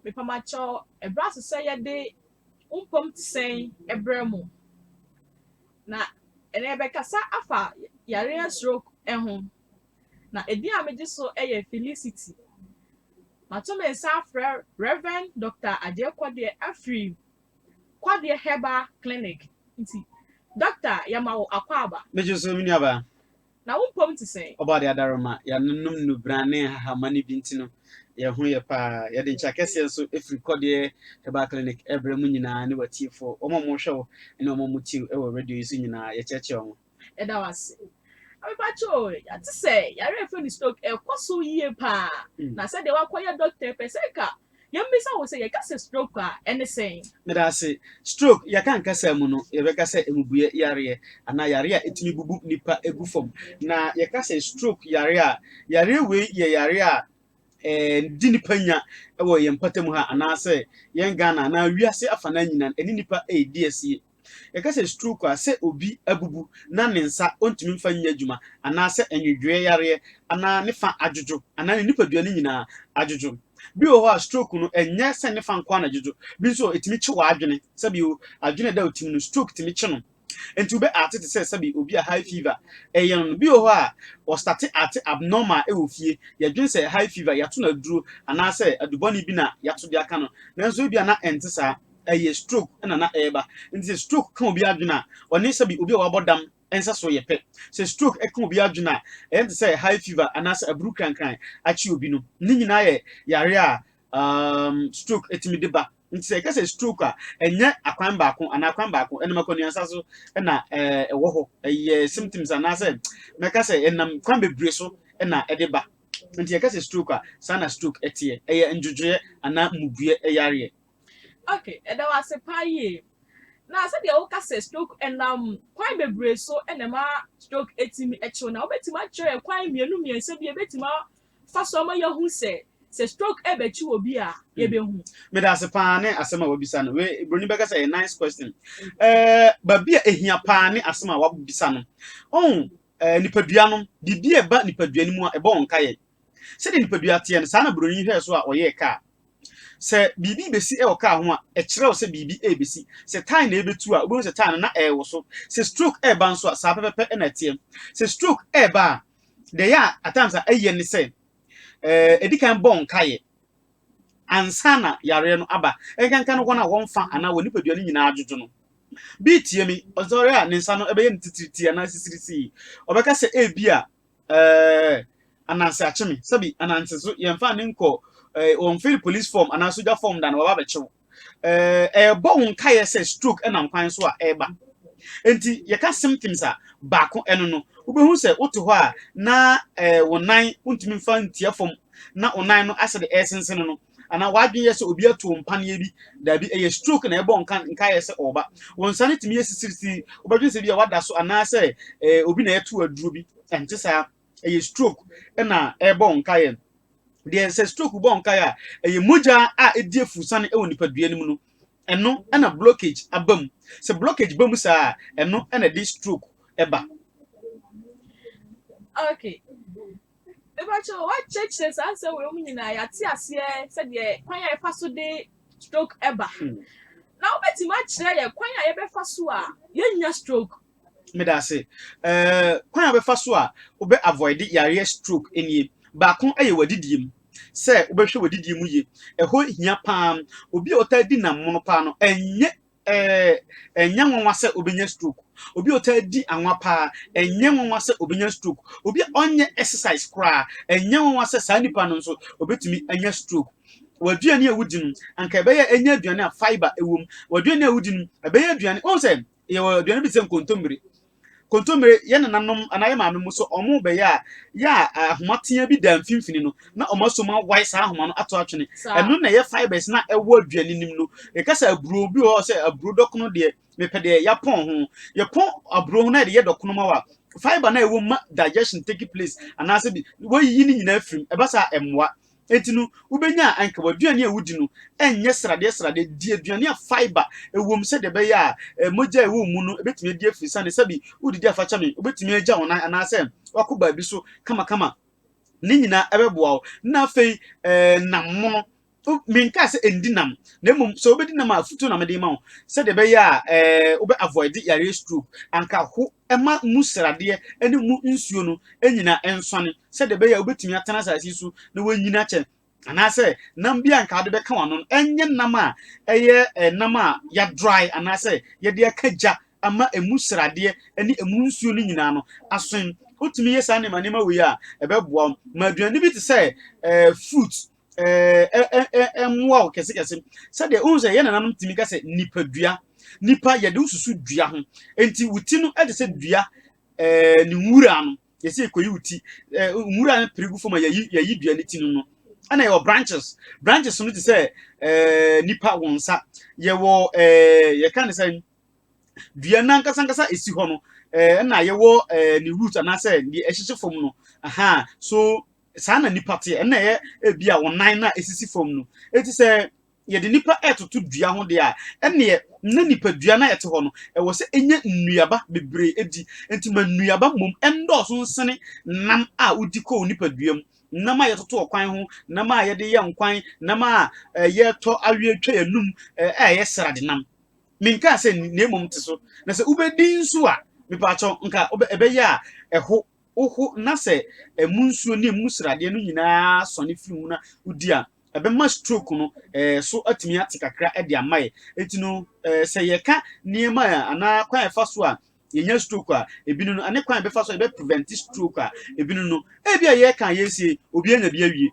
Mepamakyɛw, ɛbrɛ ase sɛ yɛde wo mpam te sɛn brɛ mo. Na ɛnɛ yɛbɛkasa afa yareɛ stroke ho. Na edin a megye so yɛ Felicity. Mato me nsa afrɛ Rev. Dɔkta Agyei Kɔdeɛ afiri Kɔdeɛ Herbal Clinic. Nti, Dɔkta, yɛma wo akwaaba. Megye so, me nuabaa. Na wo mpom te sɛn? Ɔbɔadeɛ adaworoma, yɛanom nnubran ne nhahamma no bi nti no, yɛn ho yɛ pa ara. Yɛde nkyɛ akɛseɛ nso firi Kɔdeɛ Herbal Clinic brɛ mo nyinaa ne w'atiefoɔ, wɔn a wɔhwɛ wo ne wɔn a wɔtie wo wɔ radio yi so nyinaa, yɛkyerɛkyerɛ wɔn. Yɛda wo ase. Na me pakyɛ o, yɛate sɛ yareɛ a yɛfrɛ no stroke ɛkɔ so yie pa ara, na sɛdeɛ woakɔyɛ dɔkta yi pɛ sɛ nka Yɛmmisa wo sɛ, yɛka sɛ stroke a, ɛne sɛn? Medaase. Stroke, yɛka no kasa mu no, yɛbɛka sɛ mmubuiɛ yareɛ anaa yareɛ a ɛtumi bubu nnipa gu fam. Na yɛka sɛ stroke yareɛ a, yareɛ wei yɛ yareɛ a ɛdi nnipa nya wɔ yɛn mpɔtam ha anaasɛ yɛn Ghana anaa wiase afa no ara nyinaa no, ɛne nnipa redi asie. Yɛka sɛ stroke a, sɛ obi abubu na ne nsa ɔntumi mfa nyɛ adwuma, anaasɛ nwedwoeɛ yareɛ, anaa ne fa adwodwo, anaa ne nipadua no nyinaa adwodwo. Bi wɔ hɔ a, stroke no, ɛnyɛ sɛ ne fa nko ara na ɛdwodwo. Bi nso wɔ, ɛtumi kye w'adwene. Sɛbi o, adwene a ɛda wo tirim no, stroke tumi kye no. Enti wobɛ arte te sɛ sɛbi obi a high fever ɛyɛ no no. Bi wɔ hɔ a, wɔstate arte abnormal ɛwɔ fie. Yɛdwene sɛ high fever, yɛato no aduro, anaasɛ adubɔne bi na yɛato de aka no. Nanso ebia na ɛnte saa. ɛyɛ stroke na na ɛreba. Nti sɛ stroke ka obi adwene a, ɔne sɛbi obi a wabɔ dam nsa so yɛ pɛ. Sɛ stroke ka obi adwene a, ɛyɛ no te sɛ high fever anaasɛ aburu krankran akye obi no. Ne nyinaa yɛ yare a um, stroke tumi de ba. Nti sɛ yɛka sɛ stroke a, ɛnyɛ akwan baako anaa kwan baako, ɛnam akwanuansa so na eh, ɛwɔ hɔ. Ɛyɛ symptoms anaasɛ mɛka sɛ ɛnam kwan bebree so na ɛde ba. Nti yɛka sɛ stroke a, saa na stroke teɛ. Ɛyɛ ndwodwoeɛ anaa mmubuiɛ yareɛ. Ok, yɛda wo ase paa yie. Na sɛdeɛ woka sɛ stroke ɛnam kwan bebree so na ɛma stroke ɛtumi ɛkyew na wobɛtumi akyerɛ yɛ kwan mmienu mmiɛnsa bi ɛbɛtumi afa so ama yɛahu sɛ sɛ stroke ɛbɛkyi wɔ bi a hmm. yɛbɛhu. meda ase paa ne asɛm a wabisa no wei buroni bɛka sɛ ɛyɛ nice question ɛɛ eh, baabi a ehia paa ne asɛm a wabisa no ɔn oh, ɛɛ eh, nipadua no biribi a ɛba nipadua no mu a ɛbɔ wɔn nkaeɛ Sɛdeɛ nipadua teɛ no, saa na buroni yi hwɛɛ so a ɔyɛɛ kaa. Sɛ biribi rebɛsi wɔ kaa ho a, ɛkyerɛ wo sɛ biribi rebɛsi. Sɛ tae na ɛrebɛtu a, wobɛhu sɛ tae no na ɛrewoso. Sɛ stroke reba nso a, saa pɛpɛpɛ na ɛteɛ. Sɛ stroke reba a, deɛ ɛyɛ a at times a ɛyɛ ne sɛ, eh, ɛdi kan bɔ nkaeɛ ansa na yareɛ no aba. Ɛnkanka no wɔn a wɔn fa anaa wɔn nipadua no nyinaa adwodwo no. Bi tie me, ɔsɔre a ne nsa no ɛbɛyɛ no titiritii anaa sisirisii. Ɔbɛka sɛ ebi a Ɛɛ, ananse akye me. Sɛbi, ananse so yɛmfa ne nkɔ ɛɛ wɔmfiri police form anaa sogya form da na wɔaba abɛkye wo. Ɛɛ, ɛrebɔ wo nkaeɛ sɛ stroke ɛnam kwan so a ɛreba. Enti yɛka symptoms a, baako ɛno no. Wobɛhu sɛ wote hɔ a na ɛɛ wo nan wontumi mfa ntia fam na wo nan no asɛ de ɛresensene no. anaa w'adwene yɛ sɛ obi ato mpaneɛ bi. Daabi, ɛyɛ stroke na ɛbɔ nka nkaeɛ sɛ ɔreba. Wo nsa no tumi yɛ sisirisiri, wobɛdwene sɛ bi a wada so anaasɛ eh, obi na ɛto aduro bi. Ɛnte saa, ɛyɛ stroke na ɛbɔ nkaeɛ. Deɛ sɛ stroke bɔ nkaeɛ a, ɛyɛ mogya a ɛdi afurusane wɔ nipadua no mu no, ɛno na blockage aba mu. Sɛ blockage ba mu saa a, ɛno na ɛde stroke ɛba. Okay. Mepakyɛw, wɔakyerɛkyerɛ saa nsɛm wei mu nyinaa, yɛate aseɛ sɛdeɛ kwan a yɛfa so de stroke ɛba. Hmm. Na wobɛtumi akyerɛ yɛ kwan a yɛbɛfa so a yɛnnya stroke? Meda ase. Uh, kwan a wobɛfa so a wobɛ avoid yareɛ stroke nie. Baako yɛ w'adidie mu sɛ wobɛhwɛ w'adidie mu yie. Ɛhɔ hia paa. Obi a ɔtaa di nam mono paa no, ɛnyɛ Ɛnyɛ nwanwa sɛ obenya stroke. Obi a ɔtaa di anwa paa, ɛnyɛ nwanwa sɛ obenya stroke. Obi a ɔnyɛ exercise koraa, ɛnyɛ nwanwa sɛ saa nipa no nso obetumi anya stroke. W'aduane a wudi no, anka ɛbɛyɛ ɛnyɛ aduane a fibre wom. W'aduane a wudi no, ɛbɛyɛ aduane, wohu sɛ yɛwɔ aduane bi te sɛ nkontommire. Kontommire, yɛn nenanom anaa yɛn maame mu so wɔn bɛyɛ a, yɛ a ahoma teaa bi da mfimfini no, na wɔasɔ mu awae saa ahoma no ato atwene. Ɛno na ɛyɛ fibres no a ɛwɔ aduan no nim no. Yɛka sɛ aburo bi wɔ hɔ sɛ aburo dɔkono deɛ, mepɛ deɛ yɛapɔn ho. Yɛpɔn aburo ho na yɛde yɛ dɔkono ma wo a, fibre no a ɛwɔ mu ma digestion take place anaasɛ bi, woayiyi ne nyinaa afiri mu. Ɛba saa a, ɛmmoa. Enti no, wubenya a anka w'aduane a wudi no nyɛ sradeɛ sradeɛ. Di aduane a fibre wom sɛdeɛ ɛbɛyɛ a mogya a ɛwɔ wo mu no betumi adi afi sane sɛ bi wodidi afakyɛme, wobetumi agya wo nan anaasɛ woakɔ baabi so kamakama. Ne nyinaa ɛbɛboa wo. Na afei nam mono. Menkaa sɛ ndi nam, na mmom sɛ wobedi nam a afotuo na mede rema wo sɛdeɛ ɛbɛyɛ a wobɛ avoide yareɛ stroke. Anka ho Ɛmma mu sradeɛ ne mu nsuo no nnyina nsɔne, sɛdeɛ ɛbɛyɛ a wobɛtumi atena asase yi so na woanyin akyɛ, anaasɛ nam bi a anka wode bɛka w'ano no, ɛnyɛ nam a ɛyɛ nam a yɛadrae anaasɛ yɛde aka gya ama ɛmu sradeɛ ne ɛmu nsuo no nyinaa no aso. Wotumi yɛ saa nneɛma nneɛma wei a, ɛbɛboa wo. Ma aduane bi te sɛ fruit mmoa wo kɛsekɛse sɛdeɛ wohu sɛ yɛn nananom tumi ka sɛ nipadua nipa yɛde wo susu dua ho nti wo ti no ɛde sɛ dua ɛɛ ne nwura no yɛsɛ yɛkɔyi wo ti ɛɛ nwura no pere gu fam a yɛyi yɛyi dua ne ti no no ɛna yɛwɔ branches branches no te sɛ ɛɛ nipa wɔn nsa yɛwɔ ɛɛ yɛka ne sɛ dua nankasankasa esi hɔ no ɛɛ ɛna yɛwɔ ɛɛ ne root anaasɛ deɛ ɛhyehye fam no aha so. Saa na nnipa teɛ. Ɛna ɛyɛ ebi a wɔn nan na esisi fam no. Eti sɛ yɛde nnipa ɛtoto dua ho deɛ a, ɛneɛ na nipadua no a ɛte hɔ no, ɛwɔ sɛ enya nnuaba bebree edi. Enti ma nnuaba mmom ɛndɔɔso nsene nam a wodi kɔ wo nipadua mu. Nam a yɛtoto ɔkwan ho, nam a yɛde yɛ nkwan, nam a yɛtɔ aweɛ twa yɛnum a ɛyɛ srade nam. Menkaa sɛ nni, na mmom te so. Na sɛ wobedi nso a, mepaakyɛw, nka ɛbɛyɛ a ɛho woho na sɛ ɛmu nsuo ne ɛmu sradeɛ no nyinaa sɔne firi mu na wodi a, ɛbɛma stroke no eh, so atumi ate kakra de ama yɛ. Enti no, eh, sɛ yɛka nneɛma a anaa kwan a ɛfa so a yɛnya stroke a ebi no no, ɛne kwan a ɛbɛfa so a yɛbɛprevent stroke a ebi no no, ebi a yɛka a yɛresie, obi anya bi awie.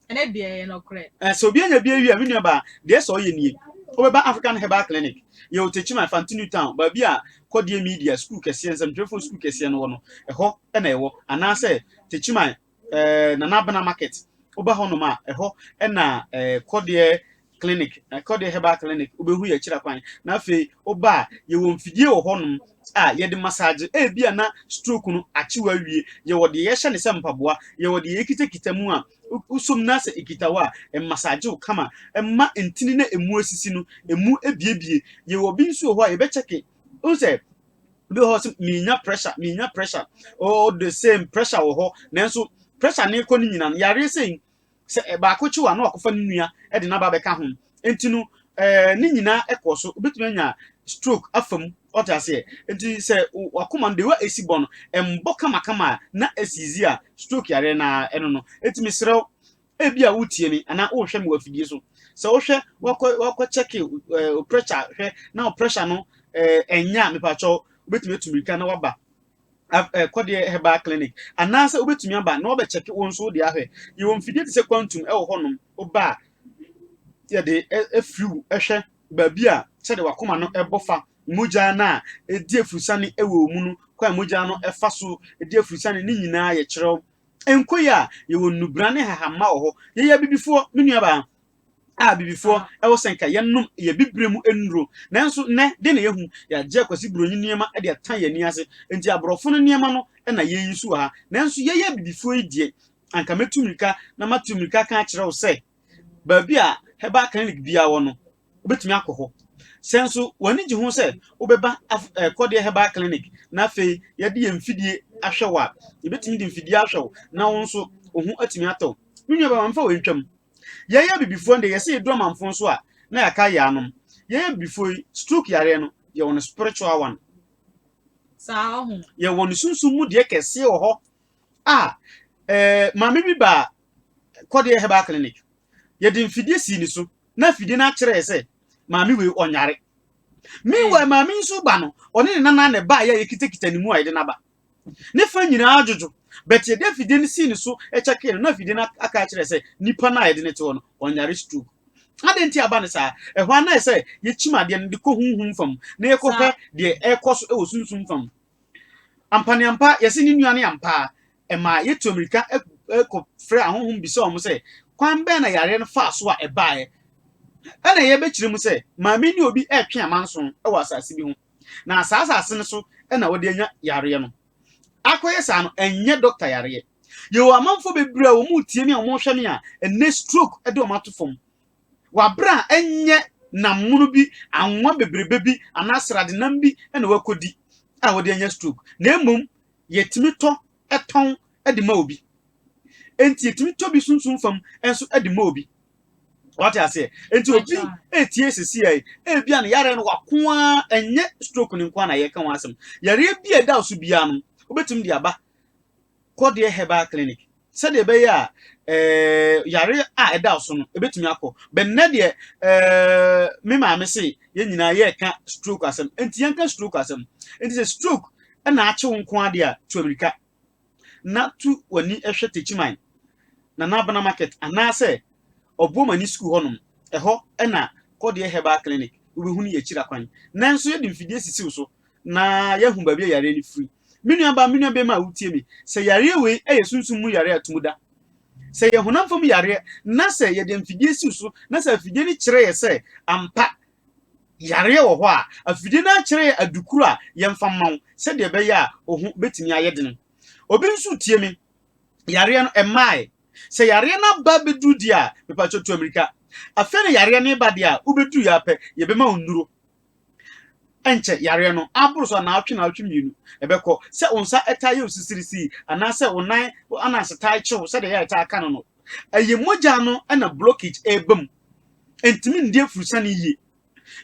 Sɛ obi anya bi awie a, me nua baa, deɛ ɛsɛ ɔyɛ nie, wobɛba African Herbal Clinic, yɛwɔ Techiman, Fanti New Town, baabi a Kɔdeɛ Media sukuu kɛseɛ, nsɛmtwerɛfoɔ sukuu kɛseɛ no wɔ no, ɛhɔ na ɛwɔ, anaasɛ Techiman, eh, Nana Abena Market, woba hɔnom a, ɛhɔ na eh, Kɔdeɛ clinic na kɔ de herbal clinic wobɛhu yɛ akyira kwan na afei woba a yɛwɔ mfidie wɔ hɔnom a yɛde massage ebi a na stroke no akyew awie yɛwɔ deɛ yɛhyɛ ne sɛ mpaboa yɛwɔ deɛ yɛkitakita mu a wosom no asɛ ekita wɔ a ɛmassage wo kama ɛma ntini na emu asisi no emu ebiebie yɛwɔ bi nso wɔ hɔ a yɛbɛkyɛke wo sɛ bi wɔ hɔ sɛ menya pressure menya pressure all the same pressure wɔ hɔ nanso pressure ne kɔ no nyinaa no yareɛ sɛ sɛ baako kyew a na wakɔfa ne nua de no aba abɛka ho. Enti no, ɛɛ ne nyinaa kɔɔ so. Wobɛtumi anya stroke afa mu. Ɔte aseɛ? Enti sɛ wakoma no, de wa esi bɔ no, ɛmbɔ kamakama a na asiizi a stroke yareɛ no ara ɛno no. Enti mesrɛ wo, ebi a wotie me anaa wohwɛ me wɔ afidie so, sɛ wohwɛ wakɔ wakɔ kyɛke ɛɛ pressure hwɛ na wo pressure no ɛɛ ɛnyɛ a, mepakyɛw wobɛtumi atu mirika na waba. akɔdeɛ herbal clinic anaasɛ wobɛtumi aba na wɔbɛkyɛke wo nso wode ahwɛ yɛwɔ mfidie te sɛ quantum wɔ hɔnom woba a yɛde afiri wo hwɛ baabi a sɛdeɛ wakoma no ɛbɔ fa mogya no a ɛdi afurusane wɔ mu no kwan mogya no ɛfa so ɛdi afurusane ne nyinaa yɛkyerɛw nkoi a yɛwɔ nnubra ne hahamma wɔ hɔ yɛyɛ abibifoɔ me nuabaa a abibifoɔ wɔ sɛ nka yɛnom yɛ bibire mu nnuro. Nanso nnɛ, dɛn na yɛhu? Yɛagye akwasi buroni nneɛma de atan yɛn ani ase. Enti aborɔfo no nneɛma no na yɛyi so wɔ ha. Nanso yɛyɛ abibifoɔ yi deɛ, anka mɛtu mmirika na matu mmirika aka akyerɛ wo sɛ, baabi a herbal clinic biara wɔ no, wobɛtumi akɔ hɔ. Sɛ nso w'ani gye ho sɛ wobɛba af eh, Kɔdeɛ Herbal Clinic na afei yɛde yɛn mfidie ahwɛ wo a, yɛbɛtumi de mfidie ahwɛ wo na wo nso wo ho atumi atɔ wo. Me nuabaa, ma mfa wei ntwam. Yɛyɛ abibifoɔ no deɛ yɛsɛ yɛdu amanfoɔ nso a na yɛaka yaanom. Yɛyɛ abibifoɔ yi, stroke yareɛ no, yɛwɔ no spiritual one. Saa ɔho. Yɛwɔ no sunsum mu deɛ kɛseɛ wɔ hɔ a eh, maame bi baa kɔdeɛ herbal clinic. Yɛde mfidie sii ne so na mfidie no akyerɛ sɛ maame wei ɔnyare. Meanwhile maame nso ba no, ɔne ne nana na ɛbaa yɛ a yɛkitakita ne mu a yɛde no aba. Ne fã nyinaa adwodwo. But yɛde afidie no sii ne so kyɛkee no, na afidie no aka akyerɛ sɛ nipa no a yɛde no te hɔ no, ɔnyare stroke. Adɛn nti aba no saa? Ɛhɔ ara na ayɛ sɛ yɛkyim adeɛ no de kɔ honhom fam na yɛkɔhwɛ deɛ ɛrekɔ so wɔ sunsum fam. Ampaneampa, yɛse ne nua no ampa a, ɛmaa yɛtu mmirika kɔfrɛɛ ahonhom bisaa wɔn sɛ, kwan bɛn na yareɛ no faa so a ɛbaeɛ? Ɛna yɛbɛkyerɛ mu sɛ, maame ne obi retwe amanso wɔ asase bi ho. na saa asase no so na wɔde anya yareɛ no. Akɔyɛ saa no, ɛnyɛ dɔkta yareɛ. Yɛwɔ amanfoɔ bebree a wɔretie me a wɔrehwɛ me a, ɛnnɛ stroke de wɔn ato fam. Wɔabrɛ a ɛnyɛ nam mono bi, anwa bebrebe bi anaa sradenam bi na wɔakɔdi a wɔde anya stroke, na mmom yɛtumi tɔ tɔn de ma obi. Enti yɛtumi tɔ bi sunsum fam nso de ma obi. Wate aseɛ? Enti obi retie sisi yɛ, ebi a ne yareɛ no wako ara, ɛnyɛ stroke no nko ara na yɛka ho asɛm. Yareɛ bi a ɛda so biara no, wobɛtumi de aba kɔdeɛ herbal clinic sɛdeɛ ɛbɛyɛ a Eh, yare a ɛda so no ɛbɛtumi akɔ bɛnnɛ deɛ eh, me maame se yɛn nyinaa yɛreka stroke asɛm nti yɛnka stroke asɛm nti sɛ stroke na akye wo nko ara deɛ a, tu amirika na tu w'ani hwɛ Techiman, Nana Abena Market anaasɛ Obuomani Sukuu hɔnom. Ɛhɔ na Kɔdeɛ Herbal Clinic wobɛhunu yɛ akyiri akwan. Nanso yɛde mfidie sisi wo so na yɛahu baabi a yareɛ no firi. Me nuabaa, me nuabarima a wotie me, sɛ yareɛ wei yɛ sunsum mu yareɛ a ɛto mu da, sɛ ɛyɛ honam fam yareɛ na sɛ yɛde mfidie si wo so na sɛ afidie no kyerɛ yɛ sɛ ampa Yareɛ wɔ hɔ a, afidie no ara kyerɛ yɛ adukuro a yɛmfa mma wo sɛdeɛ ɛbɛyɛ a wo ho bɛtumi ayɛ dene. Obi nso tie me, yareɛ no ɛmmaeɛ. Sɛ yareɛ no aba bɛduru deɛ a, mepakyɛw tu amirika. Afei na yareɛ no reba deɛ a, wobɛduruiɛ ara pɛ, yɛbɛma wo nnuro. Ɛnkyɛ yareɛ no aboro so anaawɔtwe naawɔtwe mmienu ɛbɛkɔ. Sɛ wo nsa taa yɛ wo sisirisiri anaasɛ wo nan ananse taa kyew sɛdeɛ ɛyɛ a ɛtaa ka no no, Ɛyɛ mogya no na blockage ɛreba mu. Ɛntumi ndi afurusane yie.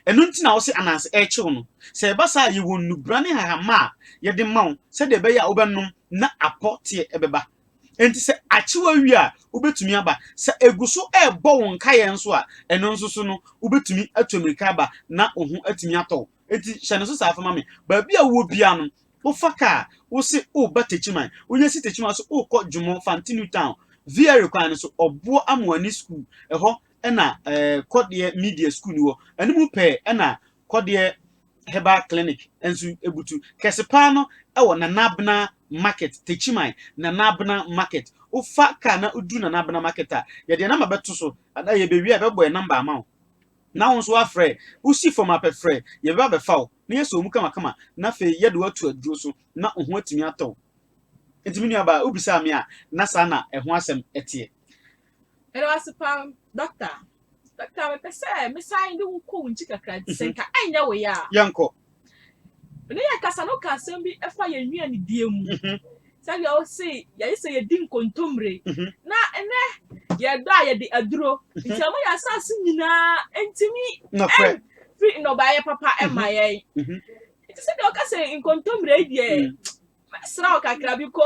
Ɛno nti na wose ananse ɛrekyew no. Sɛ ɛba saa a, yɛwɔ nnubra ne nhahamma a yɛde ma wo sɛdeɛ ɛbɛyɛ a wobɛnom na apɔ teɛ bɛba. Enti sɛ akyew awie a, wobɛtumi aba. Sɛ ɛgu so rebɔ wo nkaeɛ nso a, ɛno nso so no, wobɛtumi atu ammirika aba na wo ho atumi atɔ wo. Enti hyɛ no so saa fa ma me. Baabi a wowɔ biara no, wofa kaa, wose woreba Techiman, wonya si Techiman so wokɔ Dwomɔ, Fante New Town, Vieri kwan no so, Ɔboɔ Amoani Sukuu, ɛhɔ na eh, Kɔdeɛ Media Sukuu no wɔ. Ɛno mu pɛɛ na Kɔdeɛ Herbal Clinic nso butu. Kɛse paa no wɔ Nana Abena Market, Techiman, Nana Abena Market. Wofa kaa na woduru Nana Abena Market a, yɛde yɛn namba bɛto so, na yɛbɛwie a yɛbɛbɔ yɛn namba ama wo. Na wo nso woafrɛ, wosi fam apɛ frɛ, yɛbɛba abɛfa wo, na yɛasɔ wo mu kamakama, na afei yɛde wo ato aduro so, na wo ho atumi atɔ wo. Enti me nuabaa, wobisaa me a, na saa na ɛho asɛm teɛ. Meda wo ase paa, Dɔkta. Dɔkta, mepɛ sɛ mesan de wo kɔ wo nkyi kakra, sɛ nka ɛnyɛ wo ya a. Yɛnkɔ. mene yɛ kasa no ka asɛm bi ɛfa yɛn nnuanidie mu mhm. sɛdeɛ ɔse yɛyɛ sɛ yɛdi nkontommire mhm. na ɛnɛ yɛdɔ a yɛde aduro mhm. nti ama yɛ asase nyinaa ntumi firi nnɔbaeɛ papa ɛma yɛn nti sɛdeɛ ɔka sɛ nkontommire yi deɛ Mɛsra wo kakra bi kɔ.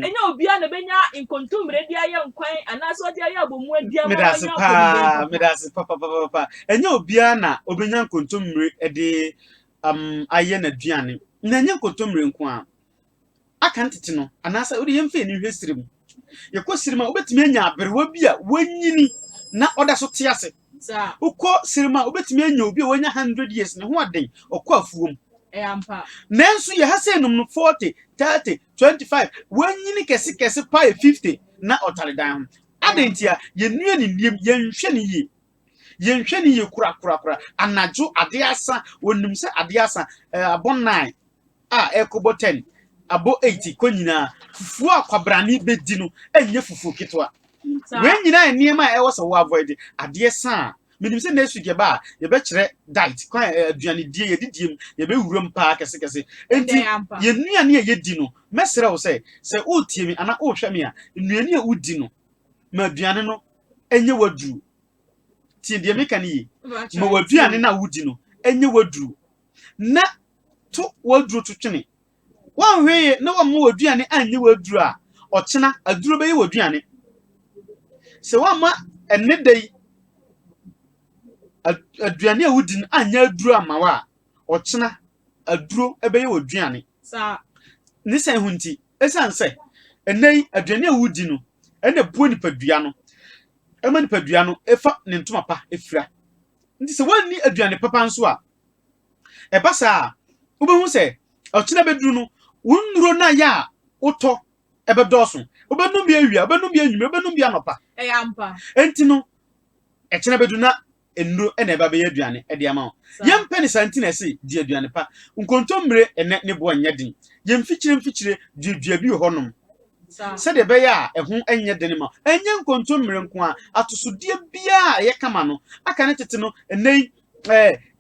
Ɛnyɛ obiara na obenya nkontommire de ayɛ nkwan anaasɛ ɔde ayɛ abɔmu adi ama Meda ase wanya paa, apɔmuden meda papa. ase papapapapa. Ɛnyɛ obiara na obenya nkontommire de um, ayɛ n'aduane. Na ɛnyɛ nkontommire nko a, aka no tete no, anaasɛ wode yɛmfa ani nhwɛ srɛ mu. yɛkɔ sirima wobɛtumi anya aberewa bi a wanyini na ɔda so te ase wokɔ sirima wobɛtumi anya obi a wanya 100 years ne ho aden ɔkɔ afuom nanso yɛha sɛ nom no 40 30 25 wanyini kɛsekɛse pae 50 na ɔtare dan ho adɛn ntia yɛnnua ne nnuam yɛnhwɛ ne yie Yɛnhwɛ no yie korakorakora. Anadwo, adeɛ asa. Wɔnim sɛ adeɛ asa. Eh, abɔ nine a ɛrekɔbɔ ten, abɔ eight kɔ nyinaa. Fufuo a kwabrane bɛdi no ɛnyɛ fufuo ketewa. Wei nyinaa nneɛma a ɛwɔ sɛ wɔ avoid adeɛ sa a. Menim sɛ next week yɛba a yɛbɛkyerɛ diet kwan eh, aduanedie yɛdidie mu yɛbɛwuram paa kɛsekɛse. Enti Ɛdɛn ampa. yɛn nnuane a yɛdi no mɛsrɛ wo sɛ sɛ woretie me anaa worehwɛ me a nnuane a wodi no ma aduane no ɛnyɛ w'aduro tie deɛ meka no yie ma w'aduane no a wodi no ɛnyɛ w'aduro na to w'aduro to twene wɔnhwee na wɔmma w'aduane anyɛ w'aduro a ɔkyena aduro bɛyɛ w'aduane sɛ wɔmma ɛne da yi aduane a wodi no anyɛ aduro ama wo a ɔkyena aduro bɛyɛ w'aduane. Ne sɛn ho nti? Ɛsiane sɛ ɛnnɛ yi aduane a wodi no na ɛboa nipadua no, ɛma nipadua no fa ne ntoma pa fira. Nti sɛ woanni aduane papa nso a, ɛba saa a, wobɛhu sɛ ɔkyena bɛduru no, wo nnuro no ayɛ a wotɔ ɛbɛdɔɔso. Wobɛnom bi awia, wobɛnom bi anwummerɛ, wobɛnom bi anɔpa. Ɛyɛ ampa. Enti no, ɛkyena bɛduru na nnuro na ɛba bɛyɛ aduane de ama wo. Yɛmpɛ no saa nti na yɛse di aduane pa. Nkontommire nnɛ ne boɔ nyɛ den. Yɛn mfikyire mfikyire duadua bi wɔ hɔ nom sɛdeɛ ɛbɛyɛ a ɛho nyɛ den ma wo. Ɛnyɛ nkontommire nko ara, atosodeɛ biara a ɛyɛ kama no, aka ne tete no, ɛnnɛ yi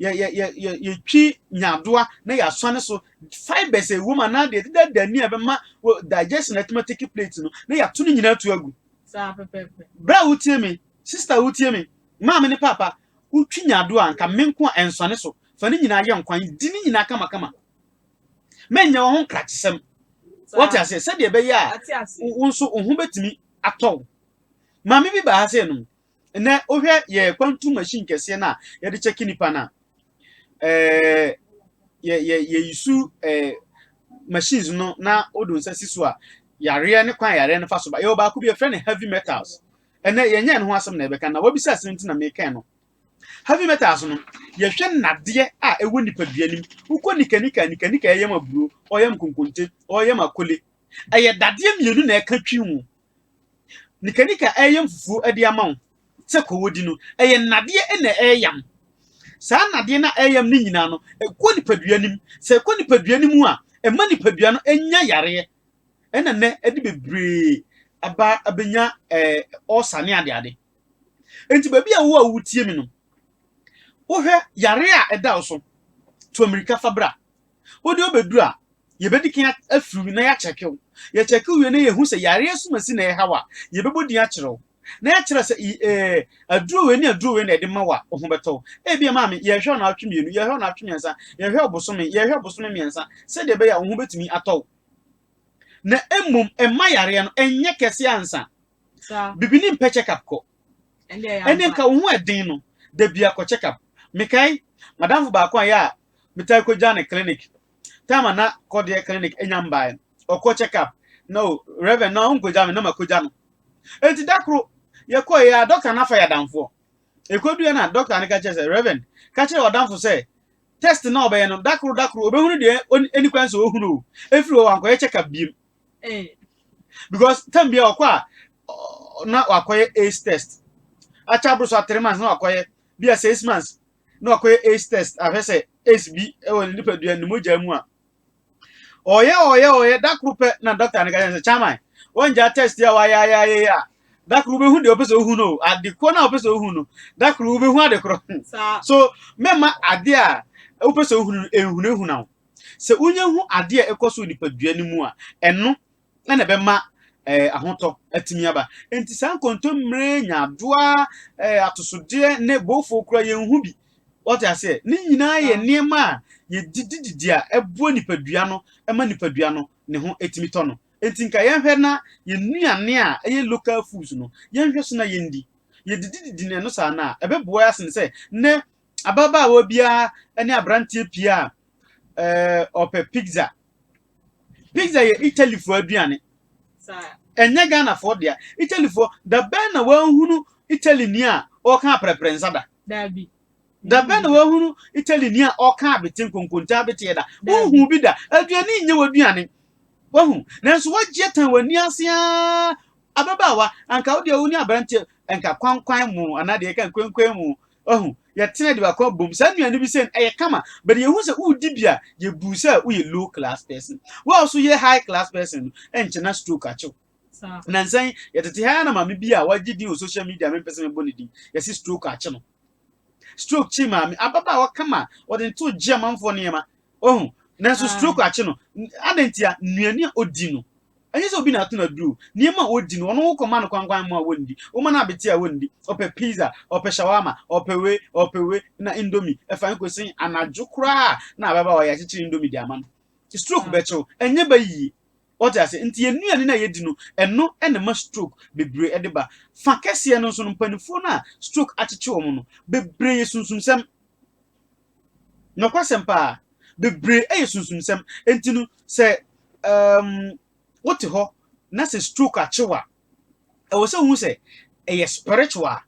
yɛtwi nyaadoa na yɛasuane so, fibers a ɛwɔ mu anaa deɛ ɛdedaadaa ni a ɛbɛma digestion atumi atake plate no na yɛato no nyinaa atu agu. Bra wotie me, sister wotie me, Maame ne paapa, wotwi nyaado a anka me nko a ɛnsɔne so, fa ne nyinaa yɛ nkwan, di ne nyinaa kamakama. Menyɛ wo ho nkrakyesɛm. Woate aseɛ? Sɛdeɛ ɛbɛyɛ a wo nso wo ho bɛtumi atɔ wo. Maame bi baa ha sɛ nom, nnɛ wohwɛ yɛ kwantu machine kɛseɛ no a yɛde kyɛke nnipa no a, ɛɛ, yɛ, yɛ, yɛyi su ɛɛ, machines no na wode nsa si so a, yareɛ ne kwan a yareɛ no fa so ba. Yɛwɔ baako bi, yɛfrɛ no heavy metals. ɛnɛ yɛnyɛ ɛno ho asɛm na yɛbɛka na wabisa asɛm nti na mekɛn no heavy metals no yɛhwɛ nnadeɛ a ɛwɔ nipadua nim wokɔ nikanika nikanika ɛyɛ ma buro ɔyɛ ma konkonte ɔyɛ ma kole ɛyɛ dadeɛ mmienu na ɛka twi ho nikanika ɛyɛ mfufuo ɛde ama wo sɛ kɔwɔdi no ɛyɛ nnadeɛ na ɛyam saa nnadeɛ na ɛyam no nyinaa no ɛkɔ nipadua nim sɛ ɛkɔ nipadua nim a ɛma nipadua no ɛnya yareɛ ɛna nnɛ ɛde bebree aba abɛnya ɛɛ ɔsa ne adeade nti baabi a wowɔ a wotie mi no wohwɛ yare a ɛda wo so to mmirika fa bra wode ɔbɛduru a yɛbɛdi kan afiri na yɛakyɛke wo yɛkyɛke wie na yɛhu sɛ yare asumasi na ɛha wo a yɛbɛbɔ din akyerɛ wo na yɛakyerɛ sɛ ɛɛ aduro wei ne aduro wei na ɛde ma wo a wo ho bɛtɔ wo ebi maame yɛhwɛ ɔnaatwe mmienu yɛhwɛ ɔnaatwe mmiɛnsa yɛhwɛ ɔbosome yɛhwɛ ɔbosome mmiɛnsa sɛdeɛ ɛbɛyɛ a wo ho bɛtumi atɔ wo na mmom ɛma yareɛ no ɛnyɛ kɛseɛ ansa bibi ne mpɛ check up kɔ ɛne nka wo ho ɛden no da bi akɔ check up mekae madamfo baako a yɛ a metaa kɔgya ne clinic time a na kɔdeɛ clinic ɛnya mbaeɛ ɔkɔ check up na o reverend na ɔnkɔgya me na makɔgya no enti da koro yɛkɔɔ yɛ a dɔkta no afa yɛ adamfoɔ ɛkɔduɛ no a dɔkta no ka kyerɛ sɛ reverend ka kyerɛ ɔdamfo sɛ test na ɔbɛyɛ no da koro da koro ɔbɛhunu deɛ ɛni kwan sɛ ɔhunu o ɛfiri hɔ wankɔyɛ check up biem eh. because tam bia ɔkɔ a na wakɔyɛ ace test akyɛ aboro so a three months na wakɔyɛ bi a six months na wakɔyɛ ace test ahwɛ sɛ ace bi ɛwɔ ne nipadua ne mogya mu a ɔyɛ ɔyɛ ɔyɛ da koro pɛ na dɔkta no ka kyerɛ sɛ chairman wɔngya test a wayɛ ayɛ ayɛ yɛ a da koro wobɛhu deɛ ɔpɛ sɛ wohu no ade korɔ no a ɔpɛ sɛ wohu no da koro wobɛhu ade korɔ so mɛma ade a wopɛ sɛ wohu no ɛnhunahuna wo sɛ wonya hu ade a ɛkɔ so nipadua no mu a ɛno na ɛbɛma eh, ahotɔ atumi aba. Enti saa nkontommire, nyaadoa, eh, atosodeɛ ne boofo kura yɛn ho bi. Wɔte aseɛ? Ne nyinaa yɛ nneɛma a yɛdidididi a ɛboa nipadua no ma nipadua no ne ho tumi tɔ no. Enti nka yɛnhwɛ na yɛn nnuane a ɛyɛ local foods no, yɛnhwɛ so na yɛndi. Yɛdidididi na ɛno saa no a, ɛbɛboa yɛ asen sɛ nɛ Ababaawa biara ne aberanteɛ pii a eh, ɔpɛ pizza. Pizza yɛ Italyfoɔ aduane. Ɛnyɛ Ghanafoɔ dea. Italyfoɔ, da bɛn na wahunu Italyni a ɔka aprɛprɛ nsa da? Daabi. Da bɛn na wahunu Italyni a ɔka abete nkonkontaa beteɛ da? Wohu bi da. Aduane nyɛ w'aduane. Wahu. Nanso wagyeɛ tan w'ani ase ara. Ababaawa, anka wo deɛ wo ne aberanteɛ, anka kwankwan mo, anaa deɛ ɛka nkwenkwen mo, Wahu? Yɛtena de baako abom. Saa nnuane bi sɛ ɛyɛ kama, but yɛhu sɛ wodi bi a, yɛbu sɛ woyɛ low class person. Wo a nso yɛ high class person no, ɛnkyɛ na stroke akye wo. Nansa yi, yɛtete ha ara na maame bi a wagye din wɔ social media a mempɛ sɛ mebɔ ne din, yɛse stroke akye no. Stroke kye maame, ababaawa kama a wɔde nto gye amanfoɔ nneɛma. Wahu? Nanso stroke akye no. Adɛn ntia? Nnuane a odi no. Ɛnyɛ sɛ obi na ato no aduro o, nneɛma a ɔdi no, ɔno wo kɔma no kwankwan mmoa a ɔndi, woma no abete a ɔndi, ɔpɛ pizza, ɔpɛ shawarma, ɔpɛ wei, ɔpɛ wei, na indomie, ɛfa he kɔsi he, anadwo koraa a na ababaawa yi akyekyere indomie de ama no, stroke bɛkye wo, ɛnyɛ ba yie. Wote aseɛ? Nti yɛn nnuane no a yɛdi no, ɛno na ɛma stroke bebree de ba. Fa kɛseɛ no nso no, mpaninfoɔ no a stroke akyekye wɔn no, bebree yɛ sunsumsɛm. Nokwasɛm paa. Bebree yɛ sunsumsɛm. Enti no, sɛ um, wote hɔ na sɛ stroke akye wo a, ɛwɔ sɛ wohu sɛ ɛyɛ spiritual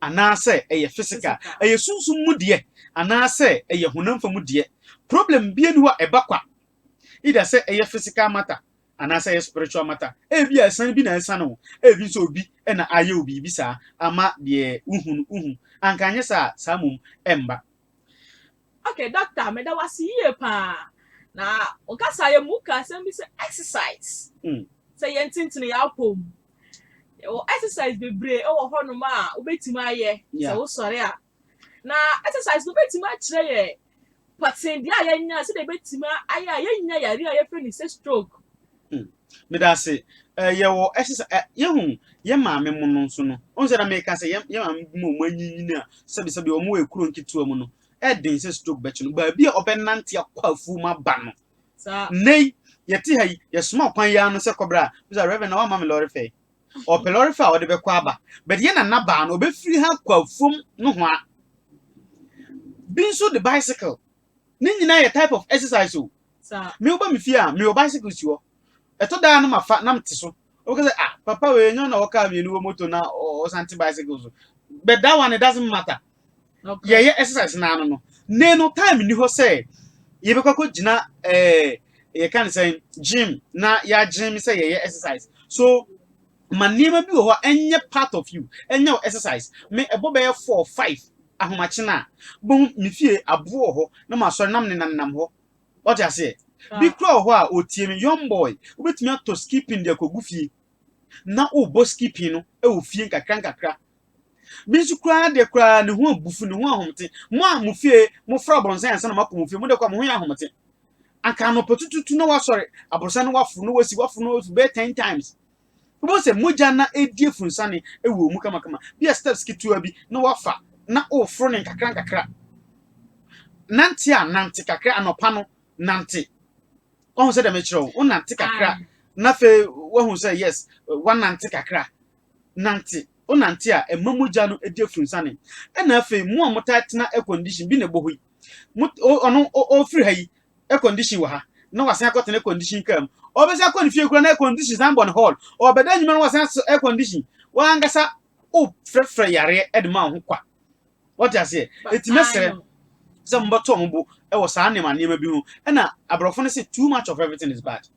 anaasɛ ɛyɛ physical. Ɛyɛ sunsum mu deɛ anaasɛ ɛyɛ honam fa mu deɛ. Problem biara ni hɔ a ɛba kwa. Either sɛ ɛyɛ physical matter Anaasɛ ɛyɛ spiritual matter. Ebia asiane bi na asiane wo. Ebi nso obi na ayɛ wo biribi saa ama deɛ wohu no, wohu. Anka anyɛ saa a, saa mmom ɛmba. Okay doctor meda wo ase yie paa na wo kasaeɛ mu wo kaa asɛm bi sɛ exercise sɛ yɛn tentene yɛn apɔ mu yɛwɔ exercise bebree wɔ hɔ nom a wo bɛtumi ayɛ sɛ wo sɔre a Na exercise no bɛtumi akyerɛ yɛ pɔtendeɛ a yɛnya sɛdeɛ yɛbɛtumi ayɛ a yɛnya yareɛ a yɛfrɛ no sɛ stroke. Hmm. Meda ase. Eh, yɛwɔ exercise eh, yɛhu yɛ maame mu no nso no. Ɔn sɛ na meka sɛ yɛ maame bi mu ɔmo anyinyini a sɛbisɛbi ɔmo wɔ ekuro nketewa mu no. Ɛden eh, sɛ stroke bɛkye no. Baabi a ɔbɛnante akɔ afuo mu aba no. Nnɛ yi yɛte ha yi yɛsoma kwan yi ano sɛ kɔbra a bisa reverend na wama me lɔre fɛ ɔpɛ lɔre fɛ a ɔde bɛkɔ aba but yɛ nana baa no ɔbɛfiri ha kɔ afuom nohoa bi nso de bicycle ne nyinaa yɛ type of exercise o me woba me fie a mewɔ bicycle si hɔ ɛtɔ daa no mafa na mete so ɔbɛka sɛ ah papa wei nyɛ na ɔkaa mmienu wɔ moto na ɔsante bicycle so but that one it doesn't matter yɛyɛ exercise naa no no ne no time ni hɔ sɛ yɛbɛkɔ akɔ gyina ɛɛ yɛka ne sɛn gym na yɛagyem sɛ yɛyɛ exercise so ma nneɛma bi wɔ hɔ a ɛnyɛ part of you ɛnyɛ wo exercise me ɛbɔ bɛyɛ four five ahomakye no a bohu me fie aboɔ wɔ hɔ na masɔre nam ne nanam hɔ ɔte aseɛ bi kura wɔ hɔ a ɔtie me young boy wobɛtumi atɔ skipping de akɔgu fie na wobɔ skipping no ɛwɔ fie nkakra nkakra Bi nso koraa deɛ koraa ne ho abufu, ne ho ahomete. Mo a mo fie mofra abɔnsan ansa na moakɔ mo fie, mo deɛ koraa mo ho yɛ ahomete. Anka anɔpa tututu na wasɔre, aborosan no waforo na wasi, waforo na wasi bɛyɛ ten times. Wobɛhu sɛ mogya na ɛredi afunsane wɔ mu kamakama. Bi a steps ketewa bi na wafa na woforo ne nkakra nkakra. Nante a nante kakra anɔpa no nante. Wahu sɛ deɛ mekyerɛ wo, wonante kakra na afei wahu sɛ yes, wanante kakra. nante, wonante a ɛma mogya no di afunsanne. Ɛna afei mo a motaa tena air condition bi na ɛbɔ hɔ yi, mo ɔno ɔfiri ha yi air condition wɔ ha na wasan akɔtena air condition kaa mu. Ɔbɛsan akɔ ne fie kura na air condition san bɔ ne hall. Ɔbɛda nnwuma no wasan so air condition. Wankasa wofrɛfrɛ yareɛ de ma wo ho kwa. Wɔte aseɛ. Ɛti mɛsrɛ sɛ mobɛtɔ mo bo wɔ saa nneɛma nneɛma bi ho. Ɛna aborɔfo no sɛ too much of everything is bad.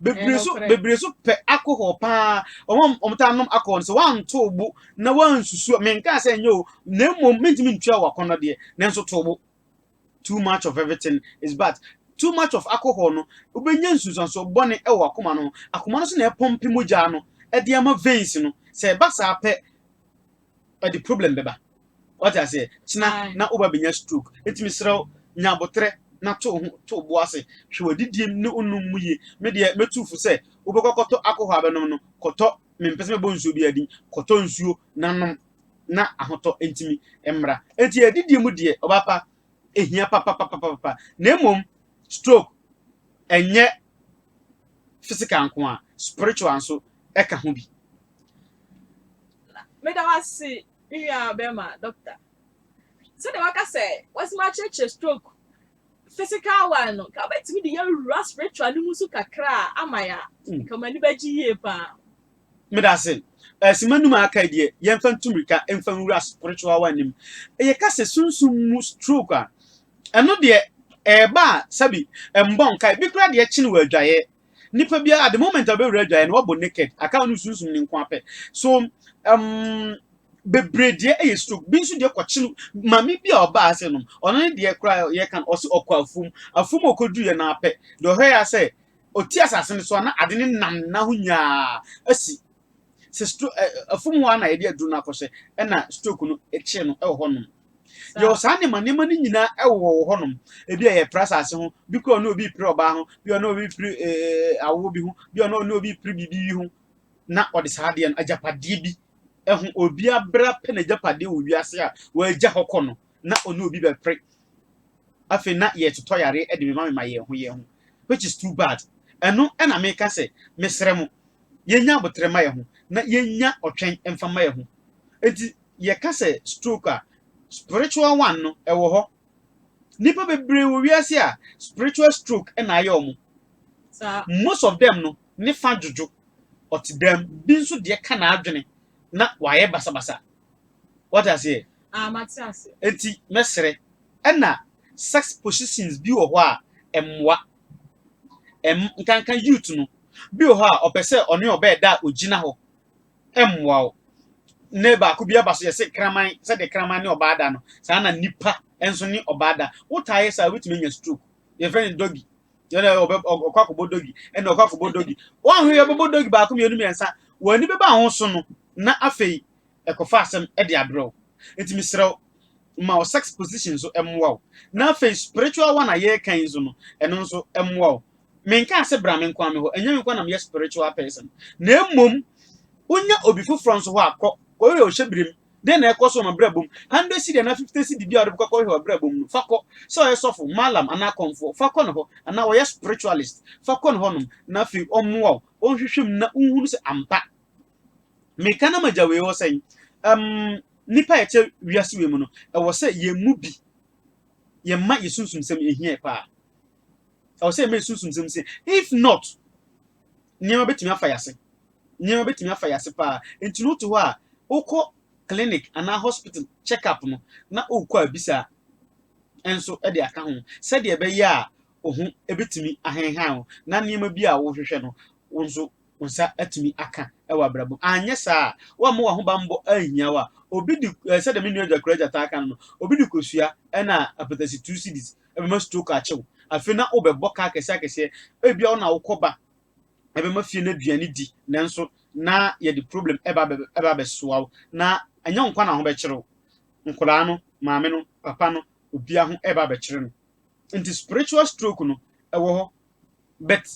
bebree so bebree so pɛ alcohol paa wɔn wɔn taa nom alcohol sɛ wɔanto bo na wɔansusu menka sɛ nyɛ o na mmom mentumi ntua wɔ akɔnɔ deɛ nanso to bo too much of everything is bad too much of alcohol no wobɛnya nsunsuansoɔ bɔne wɔ akoma no akoma no so na ɛpɔmpe mogya no ɛde ama veins no sɛ ɛba saa pɛ ɛde problem bɛba wate aseɛ kyena na woba bɛnya stroke nti mesrɛ wo nya aboterɛ na to ho to bo ase hwɛ w'adidie ne wonom mu yie me deɛ mɛtu fo sɛ wobɛkɔ kɔtɔ akɔhɔ abɛnom no kɔtɔ mempɛ sɛ mɛbɔ nsuo bi adin kɔtɔ nsuo na nom na ahotɔ ntimi mmra nti adidie mu deɛ ɔbapa ɛhia papapapapa na mmom stroke ɛnyɛ physical nko a, spiritual nso ɛka ho bi. Meda wo ase, me nua bɛrima doctor. Sɛdeɛ waka sɛ wasima akyerɛkyerɛ stroke physical one no, nka wobɛtumi de yɛwura spiritual no mu nso kakra a ama yɛ a, hmm. nka m'ani bɛgye yie paa. Meda ase. Asima eh, num a aka deɛ yɛmfa ntu mmirika mfa nwura spiritual one nim. Ɛyɛ ka sɛ sunsum mu stroke a, Ɛno deɛ, ɛreba a, sɛbi, ɛmbɔ nkae. Bi koraa deɛ, ɛkyene wɔ adwaeɛ. Nipa biara, at the moment a ɔbɛwura adwaeɛ no, wabɔ naked. Aka ɔne wo sunsum no nkoa pɛ. So, um, bebree deɛ ɛyɛ stroke. Bi nso deɛ kɔkyene, maame bi a ɔbaa ha sɛ nom, ɔno ne deɛ koraa yɛka no, ɔse ɔkɔ afuom. Afuom a ɔkɔduruiɛ no ara pɛ, deɛ ɔhwɛeɛ ara sɛ, ɔti asase no so a, na ade no nam n'ahonya ara asi. sɛ stro ɛ afum hɔ na yɛde aduru no akɔhyɛ ɛna stroke no kyee no ɛwɔ hɔnom yɛwɔ saa nneɛma nneɛma no nyinaa ɛwɔ wɔ hɔnom ebi a yɛpra asase ho bi kora ɔne obi pere ɔbaa ho bi ɔne obi pere ɛɛ awoɔ bi ho bi ɔne ɔne obi pere biribi bi ho na ɔde saa adeɛ no agyapadeɛ bi ɛho obi abra pɛ na agyapadeɛ wɔ wiase a wɔagya hɔ kɔ no na ɔne obi bɛpere afei na yɛtotɔ yare de mema mema yɛn ho yɛn ho which is too bad ɛno ɛna meka sɛ mesrɛ mo yɛnya abotrɛ ma yɛn ho na yɛnya ɔtwɛn mfa ma yɛn ho enti yɛka sɛ stroke a spiritual one no ɛwɔ hɔ nipa bebree wɔ wiase a spiritual stroke ɛna ayɛ ɔmo most of them no ne fa dwodwo ɔte dɛm bi nso deɛ ka n'adwene na wayɛ basabasa Wate aseɛ? Ah, mate aseɛ. Enti mɛsrɛ. Ɛna sex positions bi wɔ hɔ a ɛmmoa. Ɛm, nkanka youth no. Bi wɔ hɔ a ɔpɛ sɛ ɔne ɔbɛɛ da a ɔgyina hɔ. Ɛmmoa wo. Nnɛ baako bi aba so yɛse kraman, sɛdeɛ kraman ne ɔbaa da no, saa na nnipa nso ne ɔbaa da. Wotaa yɛ saa a, wobɛtumi anya stroke. Yɛfrɛ no doggy. ɛna ɔbɛ ɔkɔ akɔbɔ dɔgi ɛna ɔkɔ akɔbɔ dɔgi wɔn ahwɛ ɔbɛbɔ dɔgi baako mmienu mmiɛnsa wɔn ani bɛba ho so no na afei ɛkɔfa asɛm ɛde abrɛ wo nti mesrɛ wo ma wo sex position nso ɛmmoa wo na afei spiritual one a yɛreka yi nso no ɛno nso ɛmmoa wo menka ase bra me nko ame hɔ ɛnyɛ me nko na meyɛ spiritual person na mmom wonya obi foforɔ nso hɔ akɔ kɔyɛ ɔhyɛ birim Dɛn na ɛkɔ so wɔ m'abrabɔ mu? Hundred cedi anaa fifty cedi bi a wode bɛkɔ akɔhwehwɛ w'abrabɔ mu no, fa kɔ. Sɛ ɔyɛ sɔfo, mallam anaa kɔmfoɔ, fa kɔ ne hɔ. Anaa ɔyɛ spiritualist, fa kɔ ne hɔnom na afei ɔmmoa wo, ɔnhwehwɛ mu na wonhunu sɛ ampa meka na magya wei hɔ sɛn? Ɛm, nnipa a yɛte wiase wei mu no, ɛwɔ sɛ yɛn mu bi, yɛma yɛn sunsumsɛm ehia yɛ paa. Ɛwɔ sɛ yɛma yɛn sunsumsɛm si. If not, nneɛma bɛtumi afa yɛn ase. Nneɛma bɛtumi afa yɛn ase paa. Nti no wote hɔ a, wokɔ clinic anaa hospital check up no na wokɔ a bisa nso de aka ho sɛdeɛ ɛbɛyɛ a wo ho bɛtumi ahenhan wo na nneɛma bi a wohwehwɛ no wo nso wo nsa atumi aka wɔ abrabɔ mu. Anyɛ saa a, woamma w'aho bammɔ anhia wo a, obi de, sɛdeɛ me nua Adwa Kura Agya taa ka no no, obi de kosua na apatasi two cedis ɛbɛma stroke akyɛ wo. Afei na wobɛbɔ ka akɛseɛ-akɛseɛ. Ebia wo na wokɔ ba ɛbɛma fie no aduane di, nanso na yɛde problem ɛba ɛba abɛsoa wo. Na ɛnyɛ wo nko ara na ho bɛkyere wo. Nkwadaa no, maame no, papa no, obiara ho ɛba abɛkyere no. Nti spiritual stroke no, ɛwɔ hɔ. But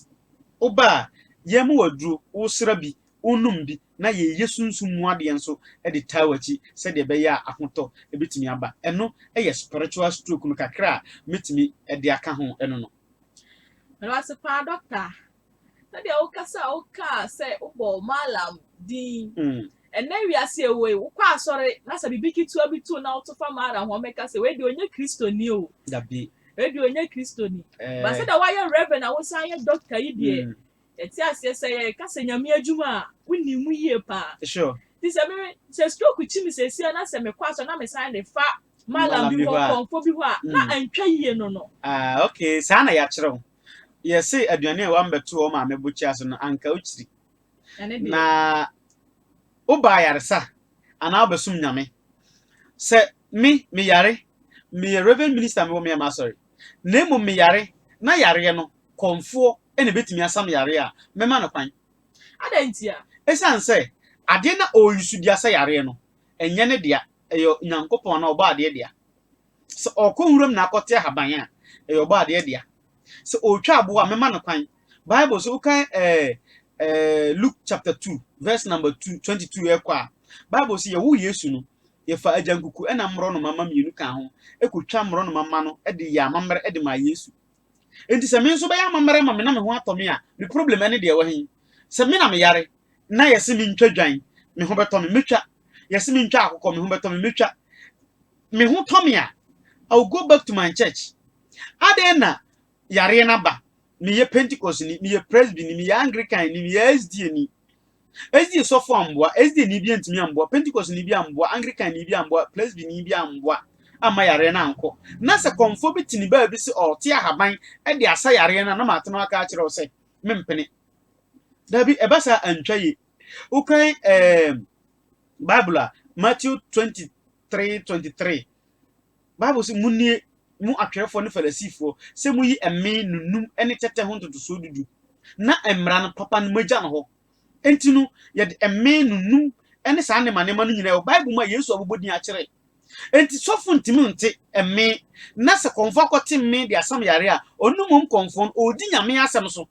wo ba a, yɛ ma wo aduro, wo sra bi, wo nom bi na yɛ yɛ sunsum mu adeɛ nso de taa w'akyi sɛdeɛ ɛbɛyɛ a ahotɔ bɛtumi aba. Ɛno yɛ spiritual stroke no kakra a mɛtumi de aka ho no no. Meda wo ase paa Doctor. Sɛdeɛ wo kasa a wo kaa sɛ wo bɔ Mallam din Ɛnnɛ wiase a yɛwɔ yi, wokɔ asɔre na sɛ biribi ketewa bi to wo na woto fam ara a, hɔn bɛka sɛ, wei deɛ ɔnyɛ Kristoni o. Dabi. Wei deɛ ɔnyɛ Kristoni. Ɛɛ. But sɛdeɛ woayɛ Rev. na wosan yɛ Dɔkta yi deɛ, yɛte aseɛ. Sɛ yɛka sɛ Nyame adwuma a, wonim mu yie paa. Sure. Nti sɛ me, sɛ stroke kyi me seesei ara na sɛ mekɔ asɔre na mesan de fa Mallam bi hɔ, Kɔmfoɔ bi hɔ a, na antwa yie no no. Ah, okay. Saa na yɛakyerɛ wo. Yɛse aduane a w'am'bɛto wo maame bokyia so no, anka wokyiri. na woba ayaresa anaa wobɛsom Nyame. Sɛ me, meyare, meyɛ Reverend Minister, mewɔ Meama Asɔre, na mmom meyare na yareɛ no kɔmfoɔ na ɛbɛtumi asam yareɛ a, mɛma no kwan. Adɛn ntia? Ɛsiane sɛ adeɛ no a ɔreyi so di asa yareɛ no, ɛnyɛ ne dea, ɛyɛ Nyankopɔn anaa Ɔbɔadeɛ dea. Sɛ ɔrekɔ nwuram na akɔte ahaban a, ɛyɛ ɔbɔadeɛ dea. Sɛ ɔretwa aboɔ a, mɛma no kwan. Bible sɛ wokan eh, eh, Luke chapter 2 verse number 2, 22 ɛkɔ a, Bible sɛ yɛwo Yesu no, yɛfa agyankuku ɛna mmorɔnoma mma mmienu kaa ho ɛkɔtwa mmorɔnoma mma no ɛde yɛ amammerɛ ɛde maa Yesu. Enti sɛ me nso bɛyɛ amammerɛ ama me na me ho atɔ me a, me problem ɛne deɛ ɛwɔ he? Sɛ me na meyare na yɛse mentwa dwan, me ho bɛtɔ me, mɛtwa. Yɛse mentwa akokɔ, me ho bɛtɔ me, mɛtwa. Me ho tɔ me a, I will go back to my church. Adɛn na yareɛ no aba? Meyɛ Pentecostni, meyɛ Presbyni, meyɛ Anglicanni, meyɛ SDAni. Ɛsdi sɔfo amboa, ɛsdi ni bi antumi amboa, Pentecost ni bi amboa, Anglican ni bi amboa, Presby ni bi amboa amma yareɛ no ankɔ. Na sɛ kɔmfoɔ bi te ne baa bi se ɔɔte ahaban de asa yareɛ no a, na maate no aka akyerɛ wo sɛ, Mempene. Dabi, ɛba saa a, antwa yie. Wokan ɛɛm Bible a, Matthew 23, 23. Bible se, Munie, mo atwerɛfoɔ ne Farisifoɔ, sɛ moyi mmee no num ne tɛtɛ ho ntotosoɔ du du, na mmara no papa no moagya no hɔ. Enti no, yɛde mmee no num ne saa nneɛma nneɛma no nyinaa wɔ Bible mu a Yesu abobɔ din akyerɛ. Enti sɔfo ntumi nte mmee, na sɛ kɔmfoɔ akɔte mmee de asam yareɛ a, ɔno mmom kɔmfoɔ no, ɔredi Nyame asɛm so.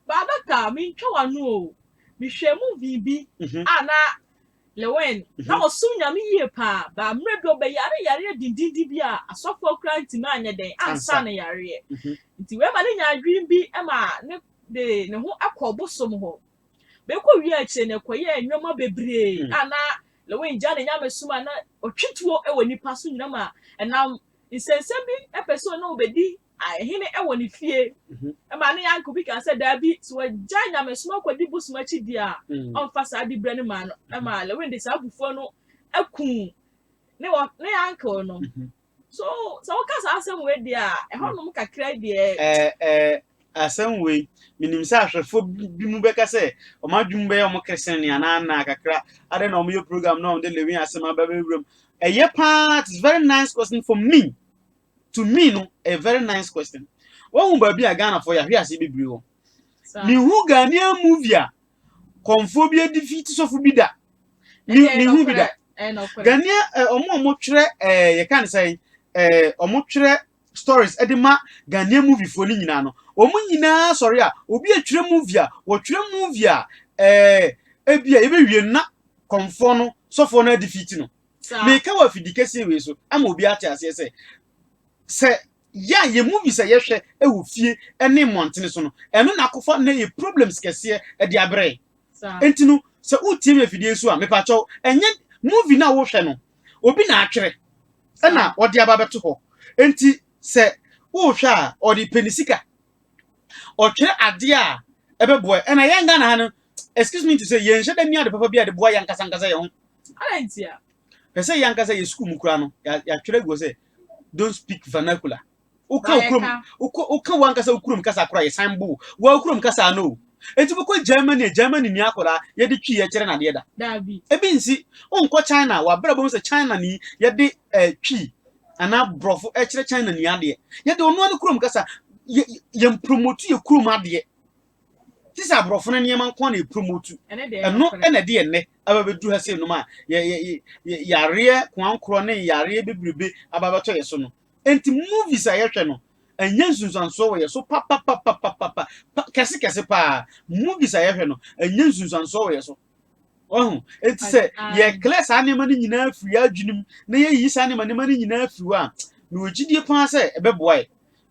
Baabata, mentwa w'ano o, mehwɛɛ movie bi a na Lewin, na ɔsom Nyame yie paa, but mmerɛ bi ɔbɛyare yareɛ dendenden bi a asɔfoɔ koraa ntumi anyɛ dɛn ansa ne yareɛ. Nti wei ma ne nyaa adwene bi ma ne de ne ho kɔɔ bosom hɔ. Bɛkɔ wie akyire no ɛkɔyɛɛ nneɛma bebree a na Lewin gya ne nyamesom a na ɔtwe tuo wɔ nnipa so nyina ma ɛnam nsɛnsɛm bi pɛ sɛ ɔne wɔbɛdi Hene wɔ ne fie. Ɛmaa ne uncle bi kaa sɛ, Dabi, sɛ wagyae nyamesom akɔdi bosom akyi deɛ a, ɔmfa saa diberɛ no mmaa no. Ɛmaa Lewin de saa abufuo no kuu ne wɔ, ne uncle no. So, sɛ woka saa asɛm wei deɛ a, ɛhɔnom kakra yi deɛ. Ɛɛ, ɛɛ, asɛm wei, menim sɛ ahwɛfoɔ bi, binom bɛka sɛ, wɔn adwene mu bɛyɛ wɔn keresene anaa nnaa kakra. Adɛn na wɔyɛ program na wɔde Lewin asɛm aba bɛwura mu? Ɛyɛ paa, it is very nice question for me. to me no a very nice question wahu baabi a ghanafoɔ yɛ ahwe ase bebree wɔ mehu ghanaian movie a kɔmfoɔ bi adi fi ti sɔfo bi da mehu bi da ghanaian ɔmo a wɔtwerɛ yɛka ne sɛ ɔmo twerɛ stories de ma ghanaian moviefoɔ no nyinaa no wɔn nyinaa sɔre a obi atwerɛ movie a wɔtwerɛ movie a ebi a yɛbɛwie na kɔmfoɔ no sɔfoɔ no adi fi ti no Meka wɔ afidi kesee wei so ama obi ate aseɛ sɛ, sɛ yɛ a yɛ movies a yɛhwɛ wɔ fie ne mmɔntene so no, ɛno na akɔfa na yɛ problems kɛseɛ de abrɛ. Enti no, sɛ wotie me afidie so a, mepakyɛw, ɛnyɛ movie no a wohwɛ no, obi na atwerɛ ɛna ɔde aba bɛto hɔ. Enti sɛ wohwɛ a, ɔde pɛ ne sika. Ɔtwerɛ adeɛ a ɛbɛboa. Ɛna yɛn Ghana ha no, excuse me to say, yɛnhyɛ da ni ade papa bi a ɛde boa yɛn ankasa ankasa yɛn ho. Adɛn ntia? Pɛ sɛ yɛn ankasa yɛ sukuu mu koraa no, yɛatwerɛ agu hɔ sɛ don't speak vernacular. Woka okurom, woka wankasa okurom kasa koraa yɛsan bo wa okurom kasa no. Enti bɛkɔ Germany a Germany ni akwadaa yɛde twi yɛkyerɛ no adeɛ da. Daabi. Ebi nsi wonkɔ China wabrɛ bom sɛ China ni yɛde eh, twi anaa borɔfo ɛkyerɛ China ni adeɛ. Yɛde ɔno ano kurom kasa yɛn promote yɛ kurom adeɛ. Ti sɛ aborɔfo no nneɛma nko na yɛ promote. Ɛno ɛna ɛde yɛ nnɛ. aba bɛduru ha sei nom a yareɛ koankorɔ ne yareɛ bebrebe aba bɛtɔ yɛ so no nti movies a yɛhwɛ no ɛnyɛ nsunsuansoɔ wɔ yɛ so papapapapapa kɛse kɛse paa movies a yɛhwɛ no ɛnyɛ nsunsuansoɔ wɔ yɛ so ɔho nti sɛ yɛklɛ saa nneɛma no nyinaa firi adwenem na yɛyi saa nneɛma nneɛma no nyinaa firi hɔ a na wɔgyidie paa sɛ ɛbɛboa yɛ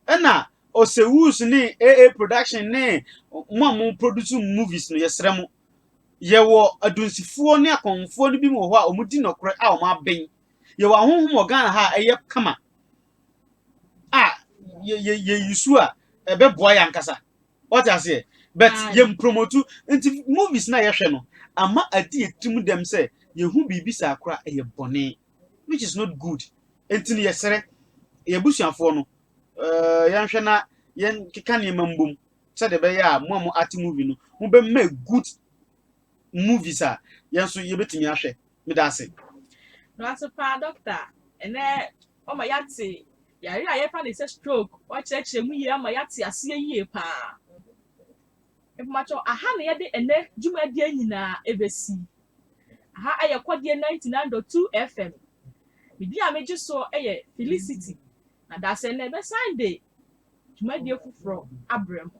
ɛna ɔsɛwus ne aa production ne mo a mo produce movies no yɛsrɛ mo Yɛwɔ adunsifoɔ ne akɔmfoɔ no bi wɔ hɔ a wɔn di nɔkorɛ a wɔn abɛn. Yɛwɔ ahohom wɔ Ghana ha a ɛyɛ kama a yɛ yɛ yɛ yusu a ɛbɛboa yɛn ankasa. Wɔte aseɛ but Aye. yɛn promotu nti movies na yɛhwɛ no ama adi yɛ tirim dɛm sɛ yɛhu biribi saa kora ɛyɛ bɔne which is not good. Nti no yɛsrɛ yɛn abusuafoɔ no uh, yɛnhwɛ na yɛn keka nneɛma mbom sɛdeɛ ɛbɛyɛ a mo a mo ate movie no mo bɛ mɛ good movies a yɛn so yɛ bɛtumi ahwɛ me da ase. Noate paa dɔkta ɛnɛ ɔma yɛate yare a yɛfa ne sɛ stroke ɔkyerɛkyerɛ mu yie ama yɛate aseɛ yie paa mpakyɛw aha na yɛde ɛnɛ dwumadie nyinaa ɛbɛsi aha ɛyɛ kɔdeɛ 99.2 fm medin a megye soɔ ɛyɛ felicity Na dasɛn na yɛbɛsan de dwumadie foforɔ abrɛ mo.